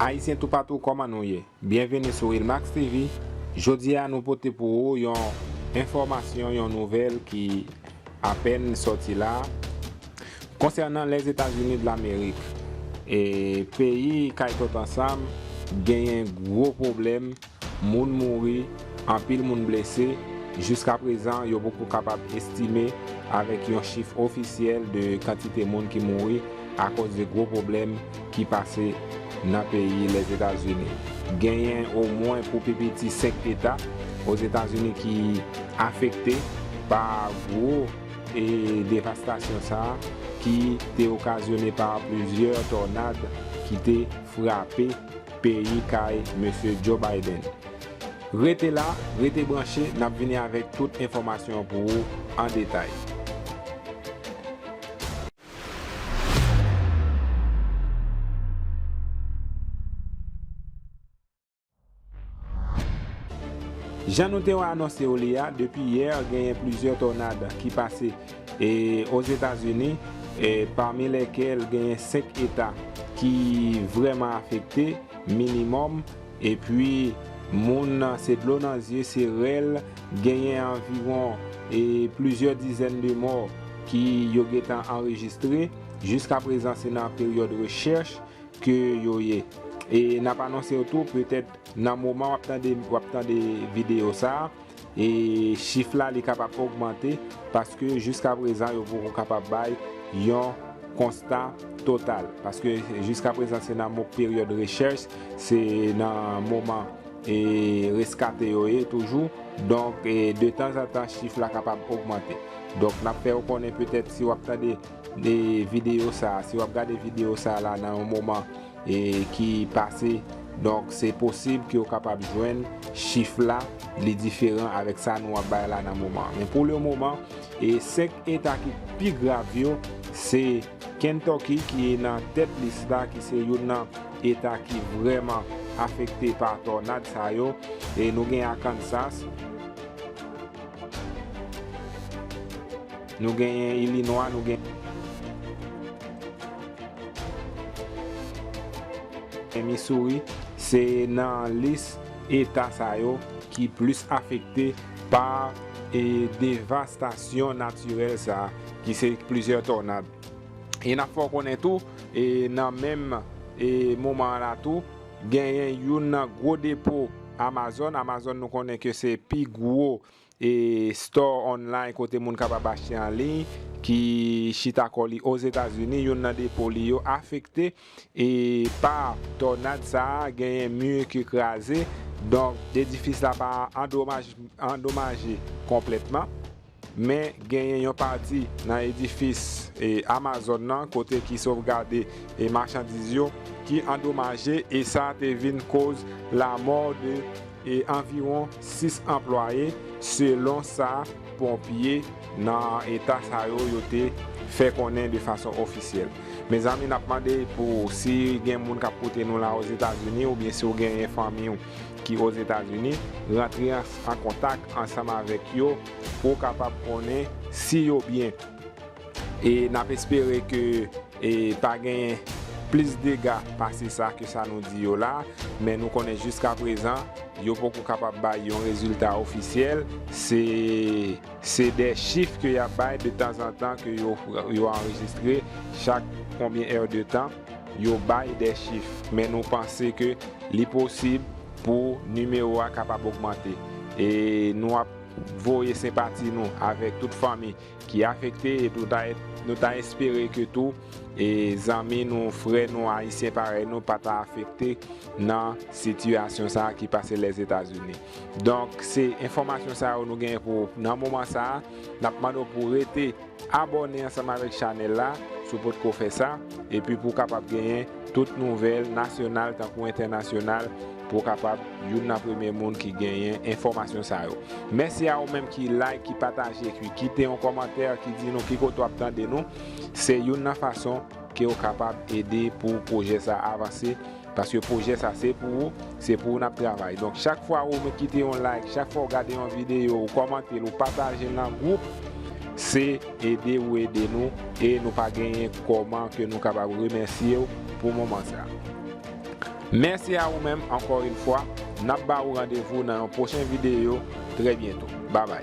Ayisyen toupatou kòman nou ye? Byenveni sou Wilmax TV, jodi a nou pote pou ou yon enfòmasyon yon nouvèl ki apèn sòti la konsènan Lèzetazini dlamerik e peyi kay tòt ansanm genyen gwo pwoblèm Moun mouri, anpil moun blese, jiska prezan yo poko kapab estime avèk yon chif ofisyèl de kantite moun ki mouri akòz de gwo pwoblèm ki pase nan peyi Lèzetazini. Genyen omwen pou pi piti 5 eta Ozetazini ki afekte pa gwo devastasyon sa ki te okazyone pa plizyè tònad ki te frape peyi kay Mesye Joe Biden. Rete la, rete branche nap vini avèk tout enfòmasyon an pou ou an detay. Jan nou te anonse ou li a, depi yè genyen plizyè tònad ki pase. E Ozetazini, pami lèkèl genyen 5 eta ki vrèman afekte, minimòm, epi moun se dlo nan zye, se rèl, genyen anviwon plizyè dizèn de mò ki yo gentan anrejistre, jiska prezan se nan peryòd rechèch ke yo ye. E nap anonsew tou petèt nan moman wap tande wap tande video sa, E chif la li kapab ogmante paske jiska prezan yo poko kapab bay yon konsta total. Paske jiska prezan se nan mo peryòd rechèch, se nan moman e reskate yo ye toujou. Donk de tanzantan chif la kapab ogmante. Donk n ap fè ou konnen petèt si w ap tande de videyo sa a, si w ap gade videyo sa a la nan yon moman ki pase donk se posib ke ou kapab jwenn chif la li diferan avèk sa nou ap bay la nan moman men pou le moman e 5 eta ki pi grav yo se Kentucky ki nan tèt lis la ki se youn nan eta ki vrèman afekte pa tònad sa yo e nou gen Arkansas. Nou genyen Illinois, nou genyen Missouri, se nan lis eta sa yo ki plis afekte pa devastasyon natirèl sa ki se plizyè tònad. E n ap fè w konnen tou, nan menm moman an la tou, genyen youn nan gwo depo Amazon, Amazon nou konnen ke se pi gwo e store online kote moun kapab achte an liy ki chita kò li Ozetazini, youn nan depo li yo afekte e pa tònad sa a, genyen mi ki kraze, donk edifis la pa andomaje konplètman, men genyen yon pati nan edifis Amazon nan kote ki sovgade machandiz yo ki andomaje e sa te vin koz lamò de e anviwon 6 anplwaye, selon sa ponpye nan eta sa yo yo te fè konnen de fason ofisyèl. Mezanmi nap mande pou si gen moun kap koute nou la Ozetazini oubyen si w genyen fanmi w ki Ozetazini, rantre an kontak ansanm avèk yo pou w kapab konnen si yo byen. E nap espere ke pa gen plis dega pase sa ke sa nou di yo la, men nou konnen jiskaprezan yo poko kapab bay yon rezilta ofisyèl, se de chif ke yap bay de tanzantan ke yo anrejistre chak konbyen è de tan yo bay de chif, men nou panse ke li posib pou nimewo a kapab ogmante. E nou ap voye senpati nou avèk tout fanmi ki afekte e tou nou ta espere ke tou e zanmi nou frè nou ayisyen parèy nou pa ta afekte nan sitiyasyon sa ki pase lèzetazini donk se enfòmasyon sa yo nou genyen pou nan moman sa nap mande w pou rete abòne ansanm avèk chanèl la si w potko fè sa epi pou w kapab genyen tout nouvèl nasyonal tankou entènasyonal. Pou w kapab youn nan premye moun ki genyen enfòmasyon sa yo. Mèsi a ou menm ki like, ki pataje, ki kite yon kòmantè ki di nou ki kote w ap tande nou. Se youn nan fason ke ou kapab ede pou pwojè sa avanse. Paske pwojè sa se pou ou, se pou ou n ap travay. Donk chak fwa ou menm kite yon like, chak fwa ou gade yon videyo, ou kòmante l, ou pataje l nan gwoup, se ede ou ede nou e nou pa genyen kòman ke nou kapab remèsye w pou moman sa. Mèsi a ou menm ankò yn fwa, nap ba ou randevou nan yon pwochen videyo trè byento. Babay.